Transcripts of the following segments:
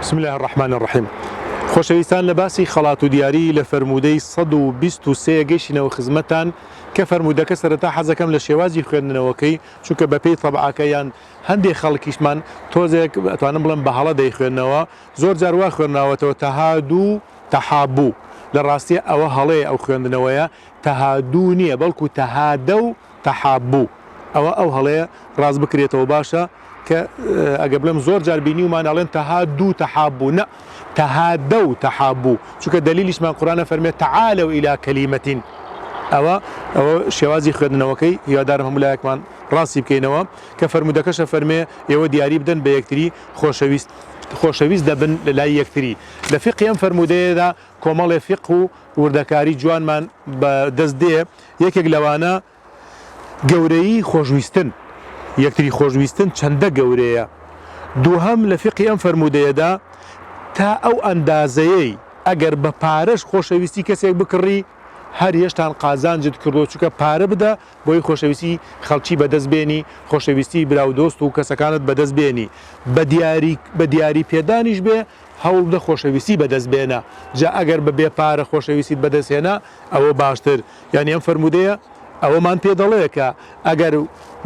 بسم اللە الرحمن الرحیم خۆشەویستان لە باسی خەڵات و دیاری لە فەرموودەی 123 گەیشتینەوە خزمەتان کە فەرموودەکە سەرەتا حەزەکەم لە شێوازی خوێندنەوەکەی چونکە بەپێی تەبعاکە یان هەندێک خەڵکیشمان تۆزێک ئەتوانم بڵێم بە هەڵە دەیخوێندنەوە زۆر جار وا خوێنراوەتەوە تەهادوو تەحابوو لە ڕاستیە ئەوە هەڵەیە ئەو خوێندنەوەیە تەهادوو نییە بەڵکو تەهادە و تحابو ئەوە ئەو هەڵەیە ڕاست بکرێتەوە باشە کە ئەگەر بڵێم زۆر جار بینیومان ئەڵێن تهادو تحابو نا تهادەو تحابو چونکە دەلیلیشمان قورئان ئەفەرموێت تعالوا الی کلیمە ئەوە ئەوە شێوازی خوێندنەوەکەی هیوادارم هەموو لایەکمان ڕاستی بکەینەوە کە فەرموودەکەش ئەفەرموێ ئێوە دیاری بدەن بە یەکتری خۆشەویست خۆشەویست دەبن لە لای یەکتری لە فقی ئەم فەرموودەیەدا کۆمەڵێ فقه و وردەکاری جوانمان بە دەست دێ یەکێک لەوانە گەورەیی خۆشویستن، یەکتری خۆشویستن چەندە گەورەیە. دووهەم لە فیقهی ئەم فەرموودەیەدا تا ئەو ئەندازەیەی ئەگەر بە پارەش خۆشەویستی کەسێک بکڕی هەر هێشتان قازانجت کردووە چونکە پارە بدە بۆی خۆشەویستی خەڵکی بەدەست بێنی خۆشەویستی برا و دۆست و کەسەکانت بەدەست بێنی بە دیاری بە دیاری پێدانیش بێ هەوڵبدە خۆشەویستی بەدەست بێنە، جا ئەگەر بە بێ پارە خۆشەویستیت بەدەست هێنا ئەوە باشتر، یانی ئەم فەرموودەیە ئەوەمان پێ دەڵێ کە ئەگەر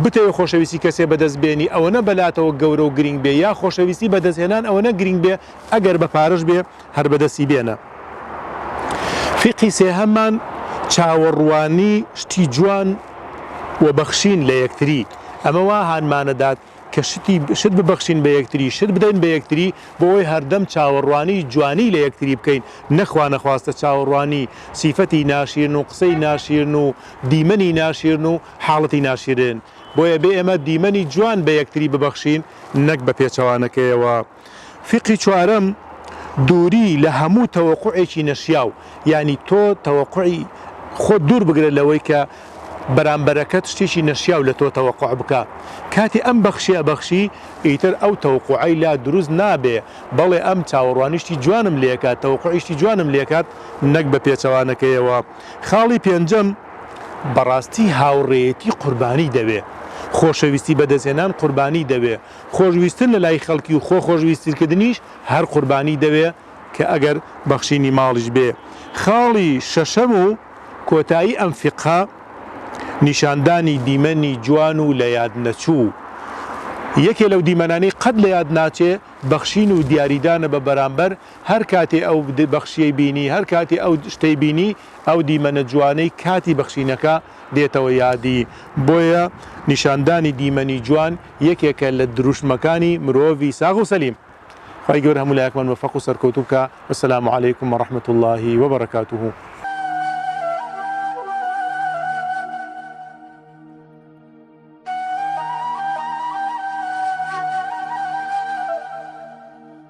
بتەوێ خۆشەویستی کەسێ بەدەست بێنی ئەوەنە بەلاتەوە گەورە و گرینگ بێ یا خۆشەویستی بەدەست هێنان ئەوەنە گرینگ بێ ئەگەر بە پارەش بێ هەر بەدەستی بێنە. فیقهی سێهەممان، چاوەڕوانی شتی جوان و بەخشین لە یەکتری، ئەمە وا هانمانەدات کە شتی شت ببەخشین بە یەکتری، شت بدەین بە یەکتری، بۆ ئەوەی هەردەم چاوەڕوانی جوانی لە یەکتری بکەین، نە خوانەخواستە چاوەڕوانی سیفەتی ناشیرن و قسەی ناشیرن و دیمەنی ناشیرن و حاڵەتی ناشیرن، بۆیە بێ ئێمە دیمەنی جوان بە یەکتری ببەخشین، نەک بە پێچەوانەکەیەوە. فیقهی چوارەم، دووری لە هەموو تەوەقوعێکی نەشیاو، یانی تۆ تەوەقوعی خۆت دوور بگرە لەوەی کە بەرامبەرەکەت شتێکی نەشیاو لە تۆ تەوەقوع بکا، کاتی ئەم بەخشیە ئەبەخشی ئیتر ئەو تەوقوعەی لا دروست نابێ، بەڵێ ئەم چاوەڕوانی شتی جوانم لێ کات، تەوەقوعی شتی جوانم لێ کات نەک بە پێچەوانەکەیەوە. خاڵی پێنجەم، بەڕاستی هاوڕێیەتی قوربانی دەوێ، خۆشەویستی بەدەستهێنان قوربانی دەوێ، خۆشویستن لە لای خەڵکی و خۆ خۆشویسترکردنیش هەر قوربانی دەوێ کە ئەگەر بەخشینی ماڵیش بێ. خاڵی شەشەم و کۆتایی ئەم فیقهە نیشاندانی دیمەنی جوان و لە یاد نەچوو. یەکێ لەو دیمەنانەی قەت لە یاد ناچێ بەخشین و دیاریدانە بە بەرامبەر، هەر کاتێ ئەو بەخشیەی بینی، هەر کاتێ ئەو شتەی بینی، ئەو دیمەنە جوانەی کاتی بەخشینەکە دێتەوە یادی. بۆیە نیشاندانی دیمەنی جوان یەکێکە لە دروشمەکانی مرۆڤی ساغ و سەلیم. خوای گەورە هەموو لایەکمان مۆفەق و سەرکەوتوو بکا والسلام علیکم ورحمت اللە وبرکاته.